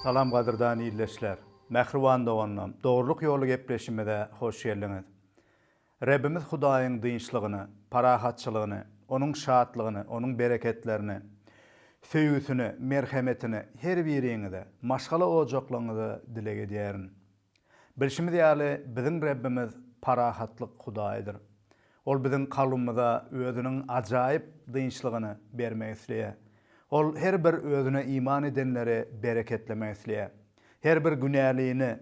Salam gadyrdan ildeşler! Mähriban doganlarym, Dogrulyk ýoly gepleşimize hoş geldiňiz. Rebbimiz Hudaýyň dynçlygyny, parahatçylygyny, Onuň şatlygyny, Onuň bereketlerini, söýgüsini, merhemetini her biriňize, maşgala ojaklaryňyza dileg edýärin. Bilşimiz ýaly, biziň Rebbimiz parahatlyk Hudaýydyr. Ol biziň kalbymyza Özüniň ajaýyp dynçlygyny bermek isleýär. Ol her bir Özüne iman edenleri bereketlemek isleýär. Her bir günälini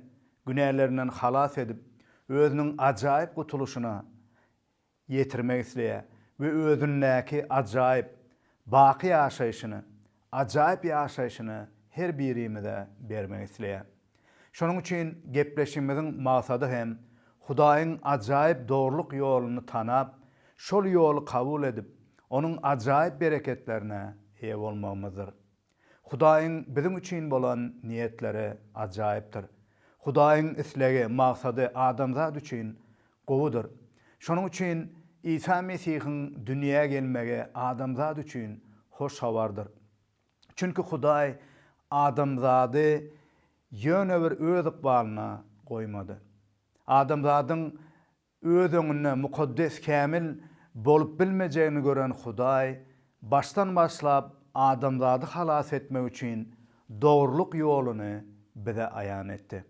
günälerinden halas edip, Özüniň ajaýyp gutulyşyna ýetirmek isleýär we özündäki ajaýyp, baky ýaşaýşyny, ajaýyp ýaşaýşyny her birimize bermek isleýär. Şonuň üçin gepleşigimiziň maksady hem Hudaýyň ajaýyp dogrulyk ýoluny tanap, şol ýoly kabul edip, onuň ajaýyp bereketlerine eýe bolmagymyzdyr. Hudaýyň biziň üçin bolan niýetleri ajaýypdyr. Hudaýyň islegi, maksady adamzat üçin gowudyr. Şonuň üçin Isa Mesihiň dünýä gelmegi adamzat üçin hoş habardyr. Çünki Hudaý adamzady ýöne bir öz ykbalyna goýmady. Adamzadyň Öz öňünde mukaddes kämil bolup bilmejegini gören Hudaý başdan başlap adamzady halas etmek üçin dogrulyk ýoluny bize aýan etdi.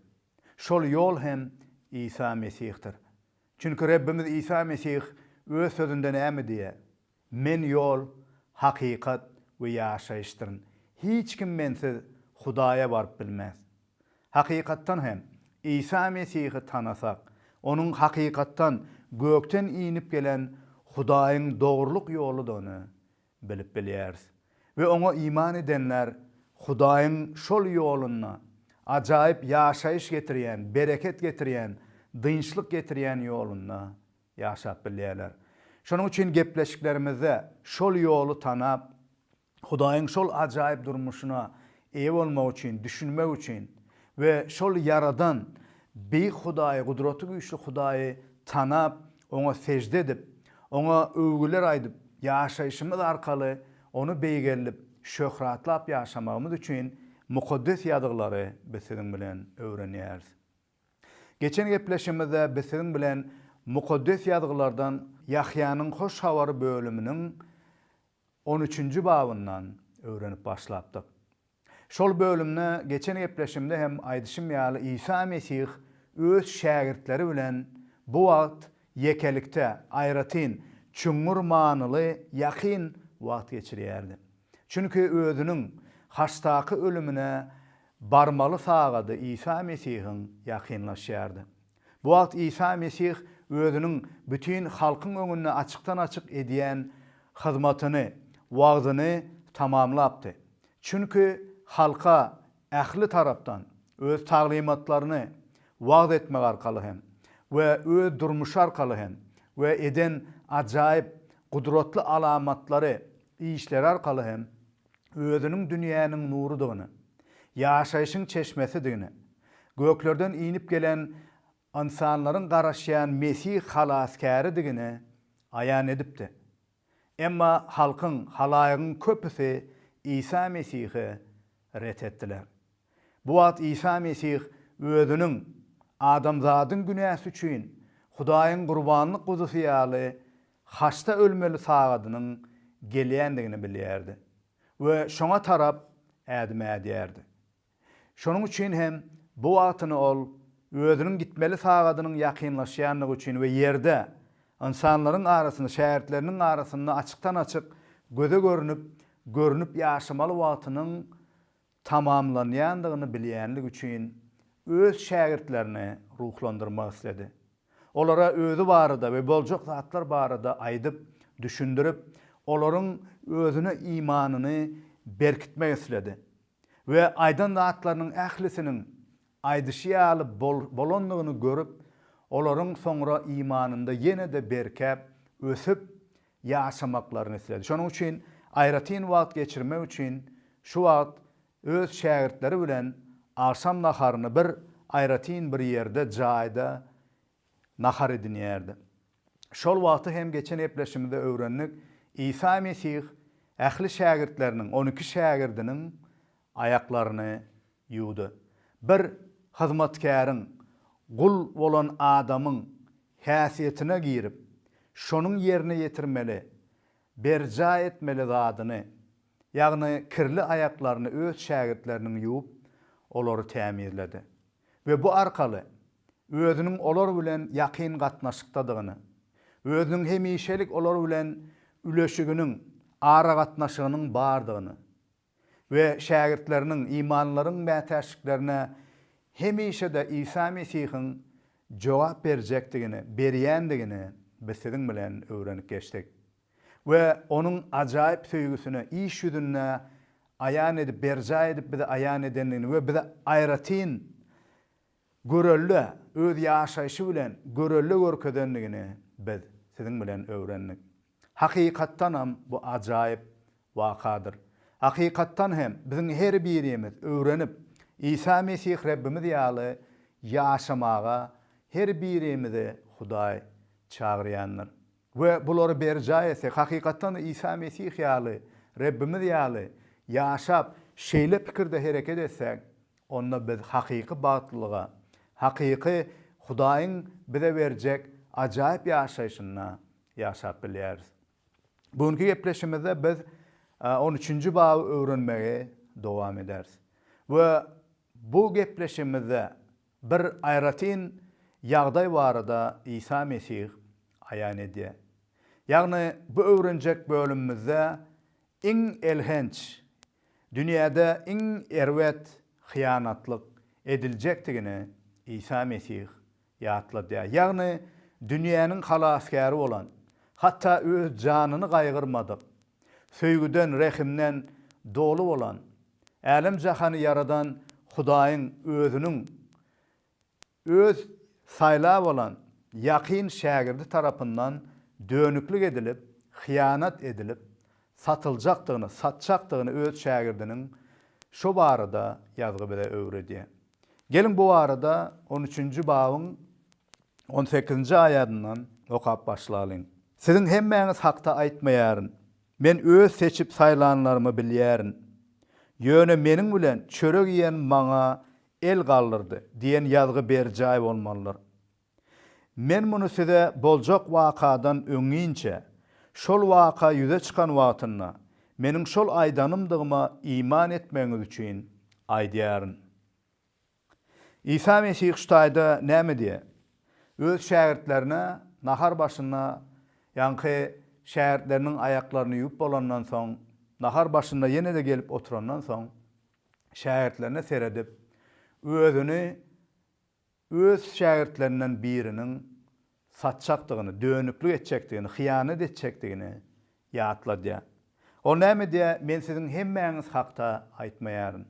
Şol ýol hem Isa Mesihdir. Çünki Rebbimiz Isa Mesih öz sözünde näme diýýär? Men ýol, hakykat we ýaşaýyşdyryn. Hiç kim Mensiz Hudaýa baryp bilmez. Hakykatdan hem, Isa Mesihi tanasak, Onuň hakykatdan gökden inip gelen Hudaýyň dogrulyk ýoludygyny bilip bilýäris. We Oňa iman edenler Hudaýyň şol ýolunda, ajaýyp ýaşaýyş getirýän, bereket getirýän, dynçlyk getirýän ýolunda Ýaşap bilýärler. Şonuň üçin gepleşiklerimizde şol ýoly tanap, Hudaýyň şol ajaýyp durmuşyna eýe bolmak üçin, düşünmek üçin we şol Ýaradan, beýik Hudaýy, gudraty güýçli Hudaýy tanap, Oňa sežde edip, Oňa öwgüler aýdyp, ýaşaýşymyz arkaly Ony beýgeldip, şöhratlap ýaşamagymyz üçin Mukaddes Ýazgylary biz siziň bilen öwrenýäris. Geçen gepleşigimizde biz siziň bilen Mukaddes Ýazgylardan Ýahýanyň Hoş Habary bölüminiň on üçünji babyndan öwrenip başlapdyk. Şol bölümde geçen gepleşigimde hem aýdyşym ýaly Isa Mesih öz şägirtleri bilen bu wagt ýekelikde, aýratyn, çuňňur manyly ýakyn wagt geçirýärdi. Çünki özüniň haçdaky ölümine Barmaly sagady Isa Mesihiň ýakynlaşýardy. Bu wagt Isa Mesih Özüniň bütin halkyň öňünde açykdan-açyk edýän hyzmatyny, wagzyny tamamlapdy. Çünki halka ähli tarapdan Öz taglymatlaryny wagyz etmek arkaly hem we Öz durmuşy arkaly hem we eden ajaýyp, gudratly alamatlary, işleri arkaly hem, Özüniň dünýäniň nurudygyny, ýaşaýşyň çeşmesidigini, göklerden inip gelen ynsanlaryň garaşýan Mesih Halasgäridigini aýan edipdi. Emma halkyň, halaýygyň köpüsi Isa Mesihi ret etdiler. Bu wagt Isa Mesih Özüniň adamzadyň günäsi üçin Hudaýyň gurbanlyk guzusy ýaly haçda ölmeli sagadynyň gelýändigini bilýärdi we şoňa tarap ädim ädýärdi. Şonuň üçin hem bu wagtyny ol özüniň gitmeli sagadynyň ýakynlaşýandygy üçin we ýerde, ynsanlaryň arasynda, şägirtleriniň arasynda açykdan-açyk göze görnüp, görnüp ýaşamaly wagtynyň tamamlanýandygyny bilýänligi üçin öz şägirtlerini ruhlandyrmak isledi. Olara özi barada we boljak zatlar barada aýdyp, düşündirip, olaryň özüne imanyny berkitmek isledi. We aýdan zatlarynyň ählisiniň aýdyşy ýaly bolandygyny görüp, olaryň soňra imanynda ýene-de berkäp, ösüp, ýaşamaklaryny isledi. Şonuň üçin aýratyn wagt geçirmek üçin şu wagt öz şägirtleri bilen agşam naharyny bir aýratyn bir ýerde, jaýda nahar edinýärdi. Şol wagty hem geçen gepleşimizde öwrendik, Isa Mesih ähli şägirtleriniň, on iki şägirdiniň aýaklaryny Ýuda, bir hyzmatkäriň, gul bolan adamyň häsiýetine girip, şonuň ýerine ýetirmeli, berjaý etmeli zadyny, ýagny kirli aýaklaryny öz şägirtleriniň ýuwup, olary tämizledi we bu arkaly özüniň olar bilen ýakyn gatnaşykdadygyny, özüniň hemişelik olar bilen üleşiginiň, aragatnaşygynyň bardygyny we şägirtleriniň imanlaryň mätäçliklerine hemişe-de Isa Mesihiň jogap berjekdigini, berýändigini biz siziň bilen öwrenip geçdik we Onuň ajaýyp söýgüsini iş ýüzünde aýan edip, berjaý edip bize aýan edendigini we bize aýratyn görelde, Öz ýaşaýşy bilen görelde görkezendigini biz siziň bilen öwrendik. Hakykatdanam bu ajaýyp wakadyr. Hakykatdan hem biziň her birimiz öwrenip, Isa Mesih Rebbimiz ýaly ýaşamaga her birimizi Hudaý çagyrýandyr. We bulary berjaý etsek, hakykatdan-da Isa Mesih ýaly, Rebbimiz ýaly ýaşap, şeýle pikirde hereket etsäk, onda biz hakyky bagtlylyga, hakyky Hudaýyň bize berjek ajaýyp ýaşaýşyna ýaşap bilýäris. Bu günki gepleşigimizde biz on üçünji baby öwrenmegi dowam ederis we bu gepleşigimizde bir aýratyn ýagdaý barada Isa Mesih aýan edýär. Ýagny bu öwrenjek bölümimizde iň elhenç, dünýäde iň erbet hyýanatlyk ediljekdigini Isa Mesih Ýatladýar. Ýagny, dünýäniň halasgäri bolan, hatda öz janyny gaýgyrmadyk, söýgüden, rehimden doly bolan, älem-jahany ýaradan Hudaýyň Özüniň Öz saýlap alan ýakyn şägirdi tarapyndan dönüklik edilip, hyýanat edilip, satyljakdygyny, satjakdygyny öz şägirdiniň şo barada ýazgy bize öwredýär. Geliň bu barada on üçünji babyň on sekizinji aýadyndan okap başlalyň. Siziň hemmäňiz hakda aýtmaýaryn. Men Öz seçip saýlanlarymy bilýärin. Ýöne Meniň bilen çörek iýen maňa el galdyrdy diýen ýazgy berjaý bolmalydyr. Men muny size boljak wakadan öňinçä, şol waka ýüze çykan wagtynda, Meniň şol aýdanymdygyma iman etmegiňiz üçin aýdýaryn. Isa Mesih şu taýda näme diýýär? Öz şägirtlerine nahar başynda, ýaňky şägirtleriniň aýaklaryny ýuwup bolandan soň, nahar başynda ýene-de gelip oturandan soň, şägirtlerine seredip, Özüni Öz şägirtlerinden biriniň satjakdygyny, dönüklik etjekdigini, hyýanat etjekdigini ýatladýar. Ol näme diýýär, Men siziň hemmäňiz hakda aýtmaýaryn.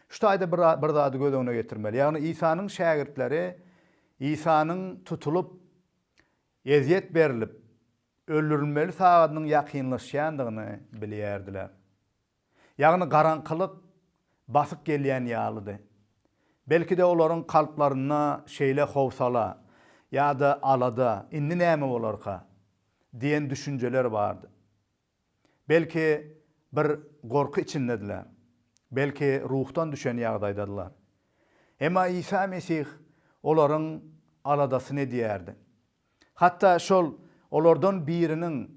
Şu taýda bir zady göz öňüne getirmeli, ýagny Isanyň şägirtleri Isanyň tutulyp, ezýet berlip, öldürilmeli sagadynyň ýakynlaşýandygyny bilýärdiler. Ýagny garaňkylyk basyp gelýän ýalydy. Belki-de olaryň kalplarynda şeýle howsala ýa-da alada, indi näme bolarka? diýen düşünjeler bardy. Belki bir gorky içindediler. Belki ruhdan düşen ýagdaýdadylar. Emma Isa Mesih olaryň aladasyny edýärdi. Hatda şol olardan biriniň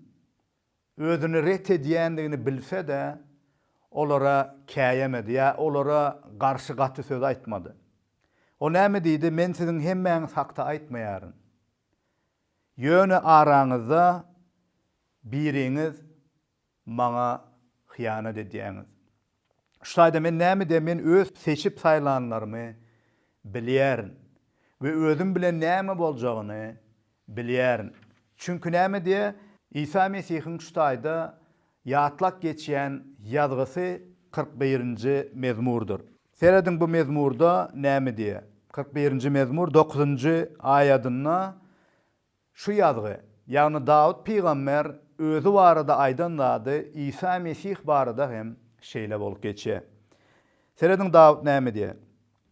Özüni ret edýändigini bilse-de, olara käýemedi ýa olara garşy gaty söz aýtmady. Ol näme diýdi, Men siziň hemmäňiz hakda aýtmaýaryn. Ýöne araňyzda biriňiz maňa hyýanat edýäňiz. Şu taýda men nämede men öz seçip saýlanlarymy bilýärin we özüm bilen näme boljagyny bilýärin. Çünki nämede Isa Mesihiň şu taýda ýatlap geçýän ýazgysy kyrk birinji mezmurdyr. Serediň bu mezmurda näme diýýär? Kyrk birinji mezmur dokuzynjy aýadynda Şu ýazgy, ýagny Dawut pygamber özi barada aýdan zady Isa Mesih barada hem şeýle bolup geçýär. Serediň Dawut näme diýýär,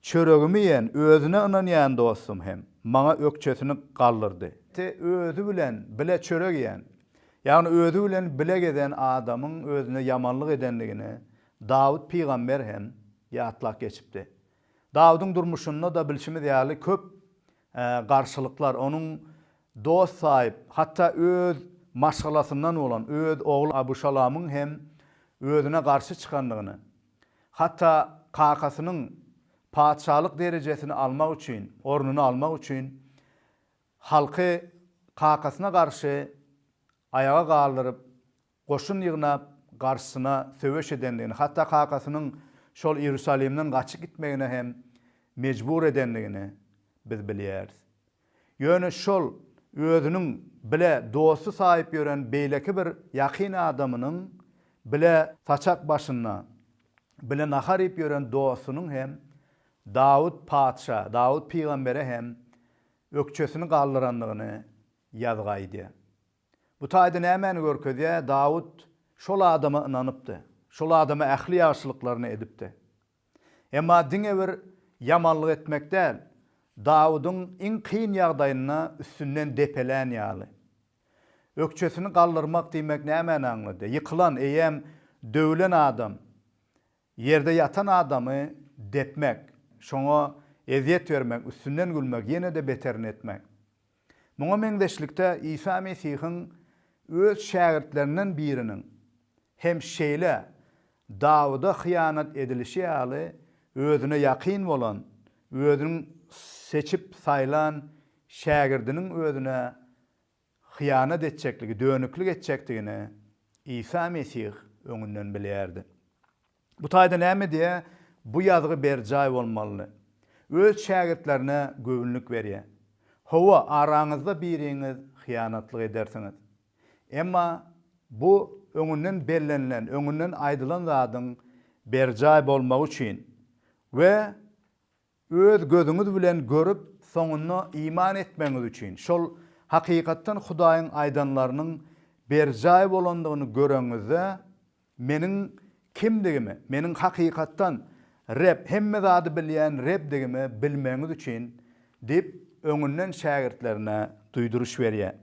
Çöregimi iýen, özüne ynanýan dostum hem maňa ökjesini galdyrdy. Te özi bilen bile çörek iýen, ýagny özi bilen bile gezen adamyň özüne ýamanlyk edendigini Dawut pygamber hem ýatlap geçipdi. Dawudyň durmuşynda-da bilşimiz ýaly köp garşylyklar, onuň dost saýyp, hatda öz maşgalasyndan bolan öz ogly Abyşalomyň hem özüne garşy çykandygyny, hatda kakasynyň patyşalyk derejesini almak üçin, ornuny almak üçin halky kakasyna garşy aýaga galdyryp, goşun ýygnap, garşysyna söweş edendigini, hatda kakasynyň şol Iýerusalimden gaçyp gitmegine hem mejbur edendigini biz bilýäris. Ýöne şol özüniň bile dosty saýyp ýören beýleki bir ýakyn adamynyň, bile saçak başynda bile nahar iýip ýören dostunyň hem Dawut patyşa, Dawut pygambere hem ökjesini galdyrandygyny ýazgy aýdýar. Bu taýda nämäni görkezýär? Dawut şol adama ynanypdy. Şol adama ähli ýagşylyklaryny edipdi. Emma diňe bir ýamanlyk etmek däl, Dawudyň iň kyn ýagdaýynda üstünden depelän ýaly. Ökjesini galdyrmak diýmek nämäni aňladýar? Ýykylan, eýýäm döwülen adam Ýerde ýatan adamy depmek, şoňa ezýet bermek, üstünden gülmek, ýene-de beterini etmek. Muňa meňzeşlikde, Isa Mesihiň öz şägirtlerinden biriniň hem şeýle Dawuda hyýanat edilişi ýaly özüne ýakyn bolan, özüniň seçip saýlan şägirdiniň özüne hyýanat etjekligi, dönüklik etjekdigini Isa Mesih öňünden bilýärdi. Bu taýda näme diýýär? Bu ýazgy berjaý bolmalydy. Öz şägirtlerine göwünlik berýär. Hawa, araňyzda biriňiz hyýanatlyk edersiňiz. Emma bu öňünden bellenilen, öňünden aýdylan zadyň berjaý bolmagy üçin we Öz gözüňiz bilen görüp, soňunda iman etmegiňiz üçin, şol hakykatdan Hudaýyň aýdanlarynyň berjaý bolandygyny göreňizde, Meniň kimdigimi, Meniň hakykatdan Reb, hemme zady bilýän Rebdigimi bilmegiňiz üçin diýip, öňünden şägirtlerine duýduryş berýär.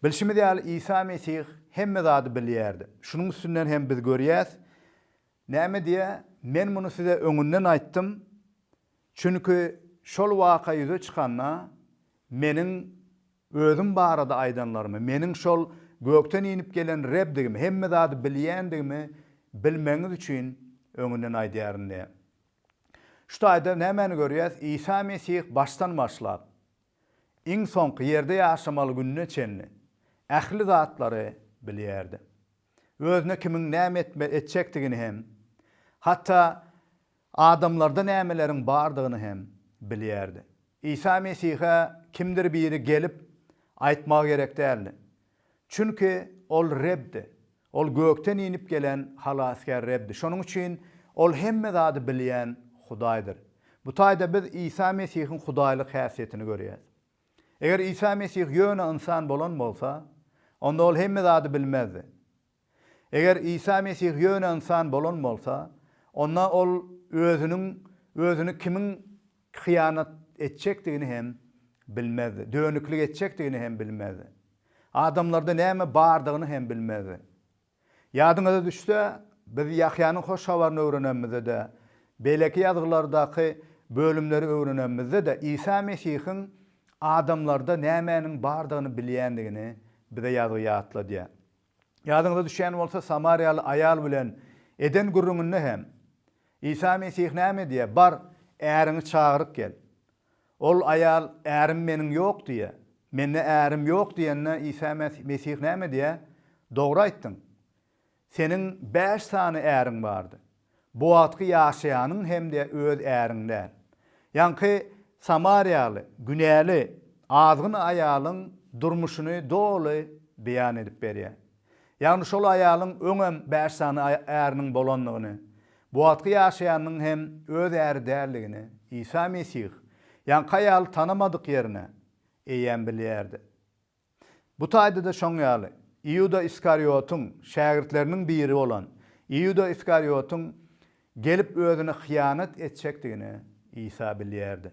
Bilşimiz ýaly, Isa Mesih hemme zady bilýärdi. Şunuň üstünden hem biz görýäs, Näme diýýä, men muny size öňünden aýtdym, çünki şol waka ýüze çykanda, meniň Özüm barada aýdanlarymy, meniň şol gökden inip gelen Rebdigimi, hemme zady bilýändigimi bilmegiňiz üçin öňünden aýdýaryn diýýä. Şu taýda nämäni görýäs? Isa Mesih başdan başlap, iň soňky ýerde ýaşamaly gününe çenli ähli zatlary bilýärdi. özüne kimiň näme etme etjekdigini hem, hatda adamlarda nämeleriň bardygyny hem bilýärdi. Isa Mesihe kimdir biri gelip aýtmagy gerek däldi. Çünki Ol Rebdi. Ol gökden inip gelen Halasgär Rebdi. Şonuň üçin Ol hemme zady bilýän Hudaýdyr. Bu taýda biz Isa Mesihiň Hudaýlyk häsiýetini görýäs. Eger Isa Mesih ýöne ynsan bolan bolsa, onda ol hemme zady bilmezdi. Eger Isa Mesih ýöne ynsan bolan bolsa, onda ol özüniň özüni kimiň hyýanat etjekdigini hem bilmezdi, dönüklik etjekdigini hem bilmezdi. Adamlarda näme bardygyny hem bilmezdi. Ýadyňyza düşse, biz Ýahýanyň hoş habaryny öwrenemizde-de, beýleki ýazgylardaky bölümleri öwrenemizde-de Isa Mesihiň adamlarda nämäniň bardygyny bilýändigini bize ýazgy ýatladýar. Ýadyňyza düşýän bolsa, samariýaly aýal bilen eden gürrüňinde hem Isa Mesih näme diýýär, Bar, äriňi çagyryp gel. Ol aýal, Ärim meniň ýok diýýär. Mende ärim ýok diýende, Isa Mesih näme diýýär? Dogry aýtdyň. Seniň bäş sany äriň bardy. Bu wagtky ýaşaýanyň hem-de öz äriň däl. Ýaňky samariýaly, günäli, azgyn aýalyň durmuşyny doly beýan edip berýär. Ýagny şol aýalyň öňem bäş sany äriniň bolandygyny, bu wagtky ýaşaýanynyň hem öz äri däldigini Isa Mesih ýaňky aýaly tanamadyk ýerine eýýäm bilýärdi. Bu taýda-da şoň ýaly, Iuda Iskariotyň şägirtleriniň biri bolan Iuda Iskariotyň gelip özüne hyýanat etjekdigini Isa bilýärdi.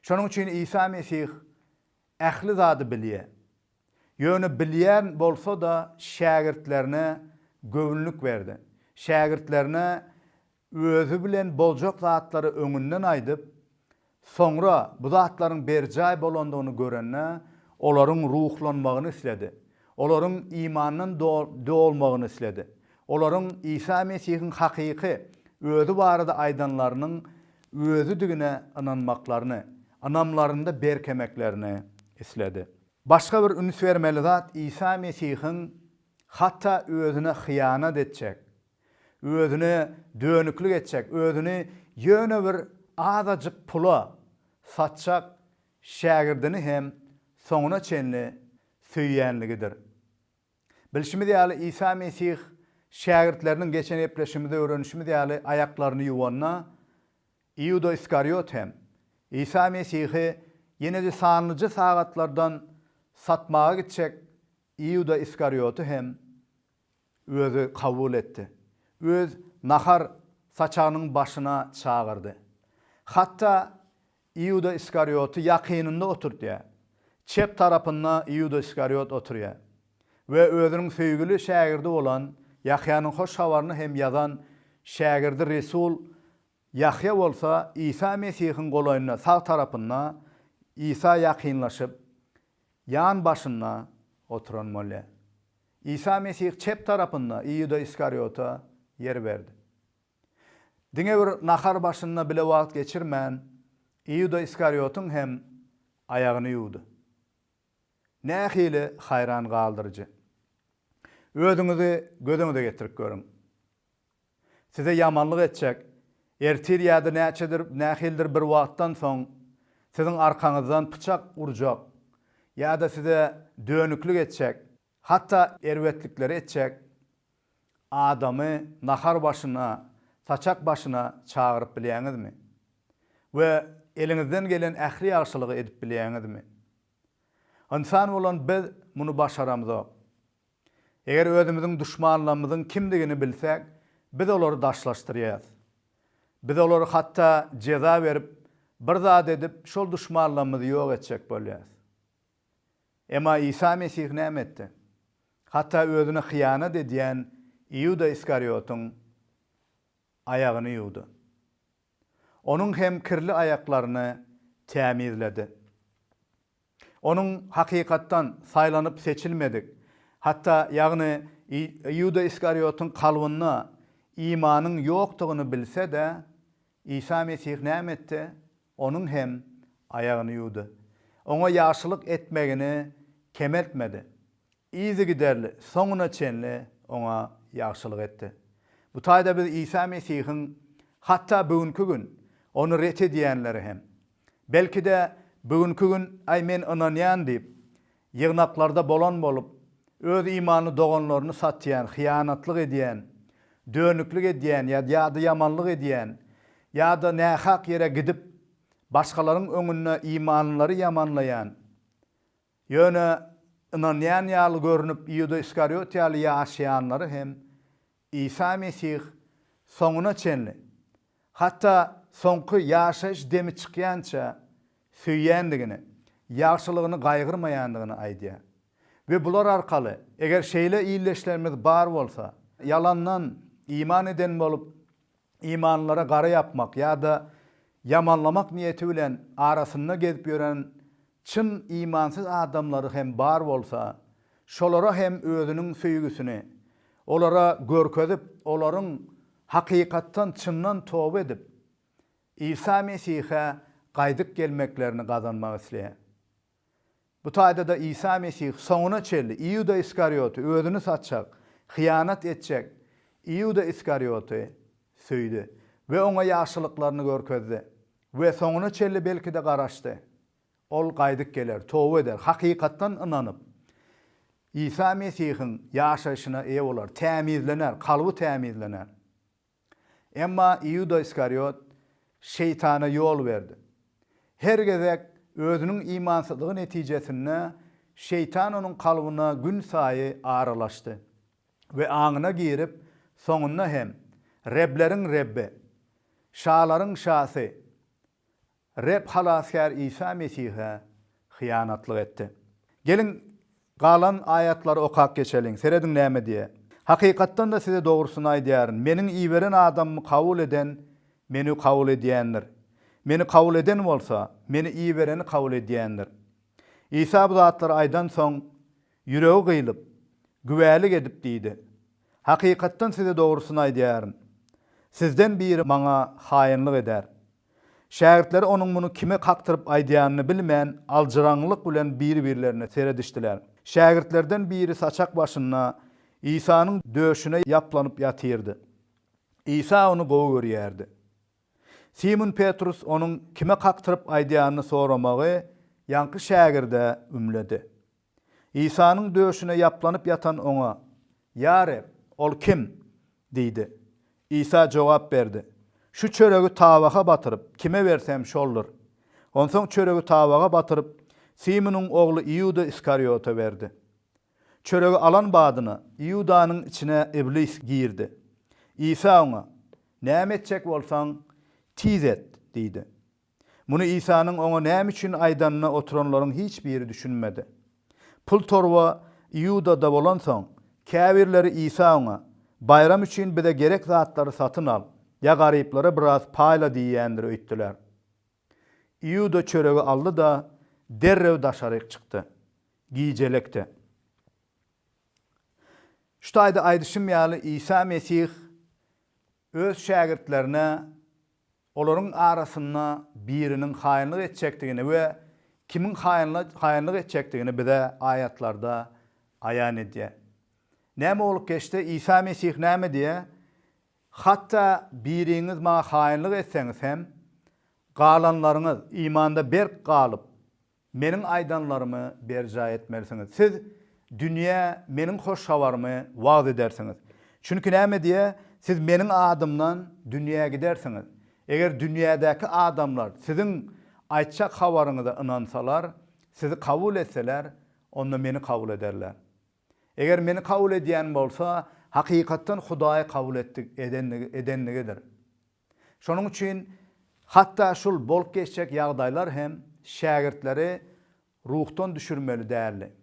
Şonuň üçin Isa Mesih ähli zady bilýär. Ýöne bilýän bolsa-da şägirtlerine göwünlik berdi. Şägirtlerine özi bilen boljak zatlary öňünden aýdyp, soňra bu zatlaryň berjaý bolandygyny görende, olaryň ruhlanmagyny isledi. Olaryň imandan dolmagyny isledi. Olaryň Isa Mesihiň hakyky özi barada aýdanlarynyň özidigine ynanmaklaryny, ynamlarynda berkemeklerini isledi. Başga bir üns bermeli zat Isa Mesihiň hatda özüne hyýanat etjek, özüne dönüklik etjek, özüni ýöne bir azajyk pula satjak şägirdini hem soňuna çenli söýýänligidir. Bilşimiz ýaly Isa Mesih şägirtleriniň geçen gepleşigimizde öwrenişimiz ýaly aýaklaryny ýuwanda Iuda Iskariot hem Isa Mesihi ýene-de sanlyja sagatlardan satmaga gitjek Iuda Iskarioty hem Özi kabul etdi. Öz nahar saçagynyň başyna çagyrdy. Hatda Iuda Iskarioty ýakynynda oturtýar. Çep tarapynda Iuda Iskariot oturýar we Özüniň söýgüli şägirdi bolan Ýahýanyň Hoş Habaryny hem ýazan şägirdi Resul Ýahýa bolsa Isa Mesihiň golaýynda sag tarapynda Isa ýakynlaşyp, ýan başynda oturan bolýar. Isa Mesih çep tarapynda Iuda Iskariota ýer berdi. Diňe bir nahar başynda bile wagt geçirmän, Iuda Iskariotyň hem aýagyny ýuwdy. Nähili haýran galdyryjy! Özüňizi göz öňüde getirip görüň. Size ýamanlyk etjek. Ertir ýa-da näçedir, nähilidir bir wagtdan soň siziň arkaňyzdan pyçak urjak ýa-da size dönüklik etjek, hatda erbetlikleri etjek adamy nahar başyna, saçak başyna çagyryp bilýäňizmi? We eliňizden gelen ähli ýagşylygy edip bilýäňizmi? Ynsan bolan biz muny başaramzok. Eger özümiziň duşmanlarymyzyň kimdigini bilsek, biz olary daşlaşdyrýarys. Biz olara hatda jeza berip, bir zat edip, şol duşmanlarymyzy ýok etjek bolýarys. Emma Isa Mesih näme etdi? Hatda özüne hyýanat edýän Iuda Iskariotyň aýagyny ýuwdy. Onuň hem kirli aýaklaryny tämizledi. Onuň hakykatdan saýlanyp seçilmedik, hatda, ýagny Iuda Iskariotyň kalbynda imanyň ýokdugyny bilse-de, Isa Mesih näme etdi? Onuň hem aýagyny ýuwdy. Oňa ýagşylyk etmegini kemeltmedi. Yzygiderli, soňuna çenli oňa ýagşylyk etdi. Bu taýda biz Isa Mesihiň hatda bu günki gün Ony ret edýänleri hem, Belki-de, bu günki gün, Aý, men ynanýan diýip, ýygnaklarda bolan bolup, öz imanly doganlaryny satýan, hyýanatlyk edýän, dönüklik edýän ýa ýa-da ýamanlyk edýän ýa-da nähak ýere gidip, başgalaryň öňünde imanlylary ýamanlaýan, ýöne ynanýan ýaly görnüp, Iuda Iskariot ýaly ýaşaýanlary hem Isa Mesih soňuna çenli, hatda soňky ýaşaýyş demi çykýança söýýändigini, ýagşylygyny gaýgyrmaýandygyny aýdýar. We bular arkaly, eger şeýle ildeşlerimiz bar bolsa, ýalandan iman eden bolup, imanlylara gara ýapmak ýa-da ýamanlamak niýeti bilen arasynda gezip ýören çyn imansyz adamlary hem bar bolsa, şolara hem özüniň söýgüsini olara görkezip, olaryň hakykatdan, çyndan toba edip, Isa Mesihe gaýdyp gelmeklerini gazanmak isleýär. Bu taýda-da Isa Mesih soňuna çenli Iuda Iskariýoty, özüni satjak, hyýanat etjek Iuda Iskariýoty söýdi we oňa ýagşylyklaryny görkezdi we soňuna çenli belki-de garaşdy. Ol gaýdyp geler, toba eder, hakykatdan ynanyp, Isa Mesihiň ýaşaýşyna eýe bolar, tämizlener, kalby tämizlener. Emma Iuda Iskariot Şeýtana ýol berdi. Her gezek özüniň imansyzlygy netijesinde Şeýtan onuň kalbyna günsaýy aralaşdy we aňyna girip, soňunda hem Rebleriň Rebbi, Şalaryň Şasy, Reb Halasgär Isa Mesihe hyýanatlyk etdi. Geliň, galan aýatlary okap geçeliň. Serediň näme diýýär. Hakykatdan-da size dogrusyny aýdýaryn, Meniň iberen adamymy kabul eden Meni kabul edýändir. Meni kabul eden bolsa, Meni ibereni kabul edýändir. Isa bu zatlary aýdansoň, ýüregi gyýlyp, güwälik edip diýdi, Hakykatdan size dogrusyny aýdýaryn, sizden biri Maňa haýynlyk eder. Şägirtleri onuň muny kime kakdyryp aýdýanyny bilmän, aljyraňňylyk bilen bir-birlerine seredişdiler. Şägirtlerden biri saçak başynda Isanyň döşüne ýaplanyp ýatyrdy. Isa ony gowy görýärdi. Simun Petrus onuň kime kakdyryp aýdýanyny soramagy ýaňky şägirde ümledi. Isanyň döşüne ýaplanyp ýatan Oňa, Ýa Reb, ol kim? diýdi. Isa jogap berdi, Şu çöregi tabaka batyryp, kime bersem, şoldur. Onsoň çöregi tabaka batyryp, Simonyň ogly Iuda Iskariota berdi. Çöregi alan badyna, Iudanyň içine Iblis girdi. Isa oňa, Näme etjek bolsaň, tiz et! diýdi. Muny Isanyň oňa näme üçin aýdanyna oturanlaryň hiç biri düşünmedi. Pul torba Iudada bolansoň, käbirleri Isa oňa, Baýram üçin bize gerek zatlary satyn al, ýa garyplara biraz paýla diýýändir öýtdüler. Iuda çöregi aldy-da, derrew daşaryk çykdy. Gijelekdi. Şu taýda aýdyşym ýaly, Isa Mesih Öz şägirtlerine olaryň arasynda biriniň haýynlyk etjekdigini we kimiň haýynlyk etjekdigini bize aýatlarda aýan edýär. Näme bolup geçse, Isa Mesih näme diýýär? Hatda biriňiz maňa haýynlyk etseňiz hem, galanlaryňyz, imanda berk galyp, Meniň aýdanlarymy berjaý etmelisiňiz. Siz dünýä Meniň hoş habarymy wagyz edersiňiz. Çünki näme diýýär, Siz Meniň adymdan dünýä gidersiňiz. Eger dünýädäki adamlar siziň aýtjak habaryňyza ynansalar, sizi kabul etseler, onda Meni kabul ederler. Eger Meni kabul edýän bolsa, hakykatdan Hudaýy kabul etdigi, edendigidir. Şonuň üçin hatda şul bolup geçjek ýagdaýlar hem şägirtleri ruhdan düşürmeli däldi.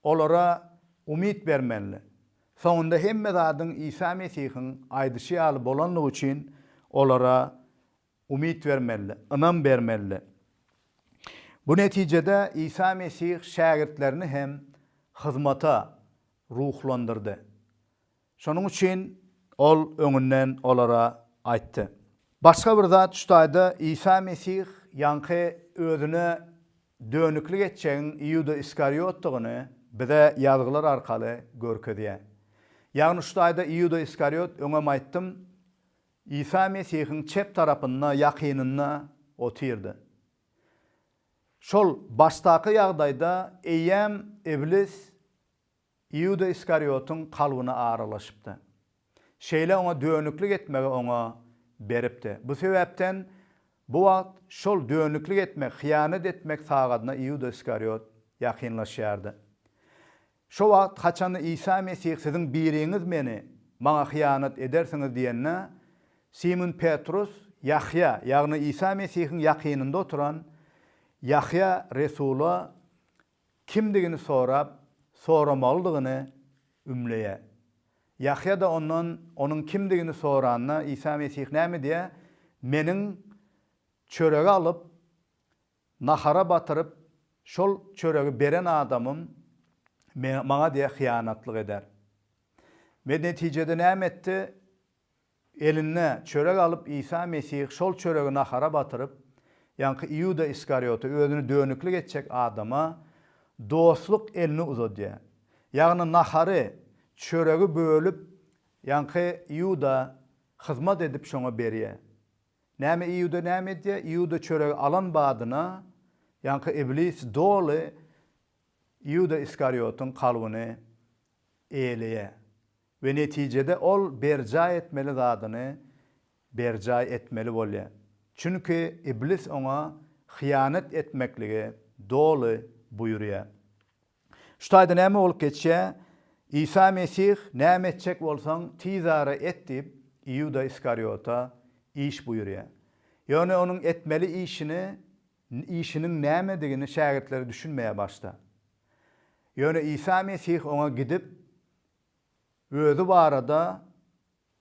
Olara umyt bermelidi. Soňunda hemme zadyň Isa Mesihiň aýdyşy ýaly bolandygy üçin olara umyt bermelidi, ynam bermelidi. Bu netijede Isa Mesih şägirtlerini hem hyzmata ruhlandyrdy. Şonuň üçin Ol öňünden olara aýtdy. Başga bir zat şu taýda Isa Mesih ýaňky Özüne dönüklik etjegiň Iuda Iskariotdygyny bize Ýazgylar arkaly görkezýär. Ýagny şu taýda Iuda Iskariot, öňem aýtdym, Isa Mesihiň çep tarapynda, ýakynynda otyrdy. Şol başdaky ýagdaýda eýýäm Iblis Iuda Iskariotyň kalbyna aralaşypdy. Şeýle oňa dönüklik etmegi oňa beripdi. Bu sebäpden bu wagt şol dönüklik etmek, hyýanat etmek sagadyna Iuda Iskariot ýakynlaşýardy. Şo wagt haçanda Isa Mesih siziň biriňiz meni, maňa hyýanat edersiňiz diýende, Simun Petrus Ýahýa, ýagny Isa Mesihiň ýakynynda oturan Ýahýa resula kimdigini sorap, soramalydygyny ümleýär. Ýahýa-da ondan onuň kimdigini soranda, Isa Mesih näme diýýär? Meniň çöregi alyp, nahara batyryp, şol çöregi beren adamym Maňa diýýär, hyýanatlyk eder. We netijede näme etdi? Eline çörek alyp Isa Mesih şol çöregi nahara batyryp, ýaňky Iuda Iskariota, özüni dönüklik etjek adama dostluk elini uzadýar. Ýagny nahary, çöregi bölüp ýaňky Iuda hyzmat edip şoňa berýär. Näme Iuda näme edýär? Iuda çöregi alan badyna ýaňky Iblis doly Iuda Iskariotyň kalbyny eýeleýär. We netijede ol berjaý etmeli zadyny berjaý etmeli bolýar. Çünki Iblis oňa hyýanat etmekligi doly buýurýar. Şu taýda näme bolup geçýär? Isa Mesih, Näme etjek bolsaň, tizara et diýip, Iuda Iskariota iş buýurýar. Ýöne onuň etmeli işini, işiniň nämedigini şägirtleri düşünmeýär başda. Ýöne Isa Mesih oňa gidip, Özi barada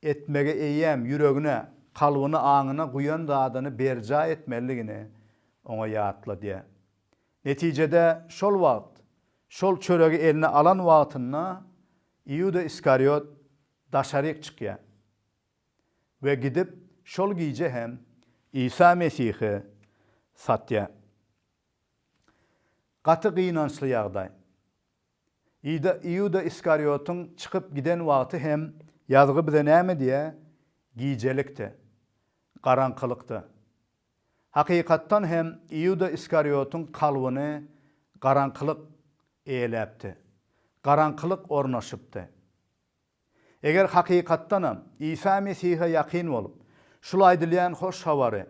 etmegi eýýäm ýüregine, kalbyna, aňyna guýan zadyny berjaý etmelidigini oňa ýatladýar. Netijede şol wagt, şol çöregi eline alan wagtynda Iuda Iskariot daşaryk çykýar we gidip şol gije hem Isa Mesihi satýar. Gaty gynançly ýagdaý. Iuda Iskariotyň çykyp giden wagty hem ýazgy bize näme diýýär? Gijelikde. Garaňkylykda. Hakykatdan hem Iuda Iskariotyň kalbyny garaňkylyk eýeläpdi. Garaňkylyk ornaşypdy. Eger hakykatdanam Isa Mesihe ýakyn bolup, şul aýdylýan hoş habary,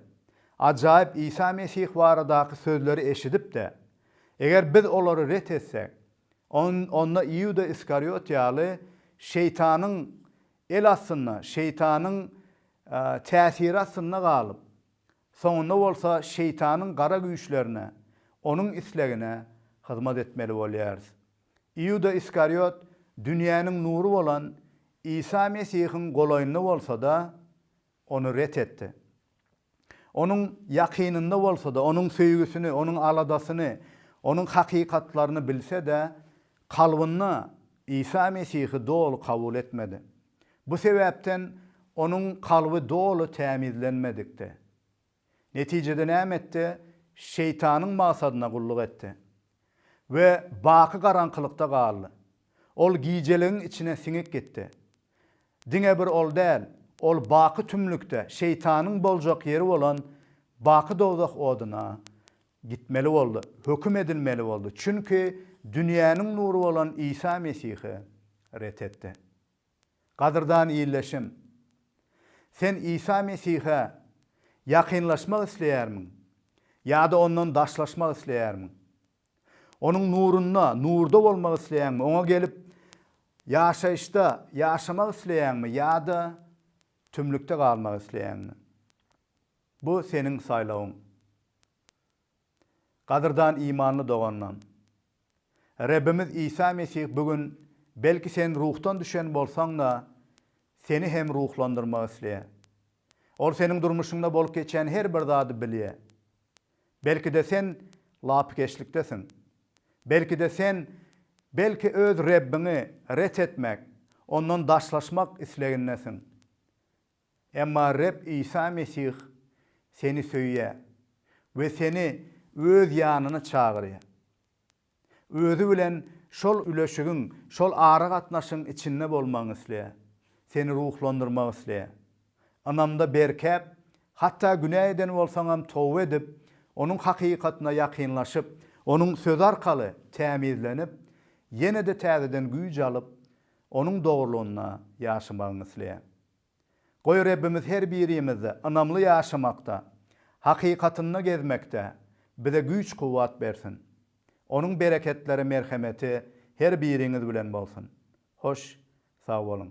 ajaýyp Isa Mesih baradaky sözleri eşidip-de, eger biz olary ret etsek, on, onda Iuda Iskariot ýaly Şeýtanyň el astynda, Şeýtanyň täsiri astynda galyp, soňunda bolsa Şeýtanyň gara güýçlerine, onuň islegine hyzmat etmeli bolýarys. Iuda Iskariot dünýäniň nury bolan Isa Mesihiň golaýynda bolsa-da, ony ret etdi. Onuň ýakynynda bolsa-da, onuň söýgüsini, onuň aladasyny, onuň hakykatlaryny bilse-de, kalbynda Isa Mesihi doly kabul etmedi. Bu sebäpden onuň kalby doly tämizlenmedikdi. Netijede näme etdi? Şeýtanyň maksadyna gulluk etdi we baky garaňkylykda galdy. Ol gijeligiň içine siňip gitdi. Diňe bir ol däl, ol baky tümlükde, Şeýtanyň boljak ýeri bolan baky dowzah oduna gitmeli boldy, höküm edilmeli boldy, çünki dünýäniň nury bolan Isa Mesihi ret etdi. Gadyrdan ildeşim! Sen Isa Mesihe ýakynlaşmak isleýärmiň ýa-da ondan daşlaşmak isleýärmiň? Onuň nurunda, nurda bolmak isleýäňmi? Oňa gelip, ýaşaýyşda ýaşamak isleýäňmi ýa-da tümlükde galmak isleýäňmi? Bu seniň saýlawyň. Gadyrdan imanly doganym! Rebbimiz Isa Mesih bu gün belki sen ruhdan düşen bolsaň-da, seni hem ruhlandyrmak isleýär. Ol seniň durmuşyňda bolup geçen her bir zady bilýär. Belki-de sen lapykeçliktesiň. Belki-de sen belki öz Rebbiňi ret etmek, Ondan daşlaşmak islegindesiň. Emma Reb Isa Mesih seni söýýär we seni Öz ýanyna çagyrýar. Özi bilen şol üleşigiň, şol aragatnaşygyň içinde bolmagyňy isleýär. Seni ruhlandyrmak isleýär. Ynamda berkäp, hatda günä eden bolsaňam toba edip, Onuň hakykatyna ýakynlaşyp, Onuň Sözi arkaly tämizlenip, ýene-de täzeden güýç alyp, Onuň dogrulygynda ýaşamagyňy isleýän. Goý Rebbimiz her birimizde ynamly ýaşamakda, hakykatynda gezmekde bize güýç-kuwwat bersin. Onuň bereketleri, merhemeti her biriňiz bilen bolsun. Hoş, sag boluň!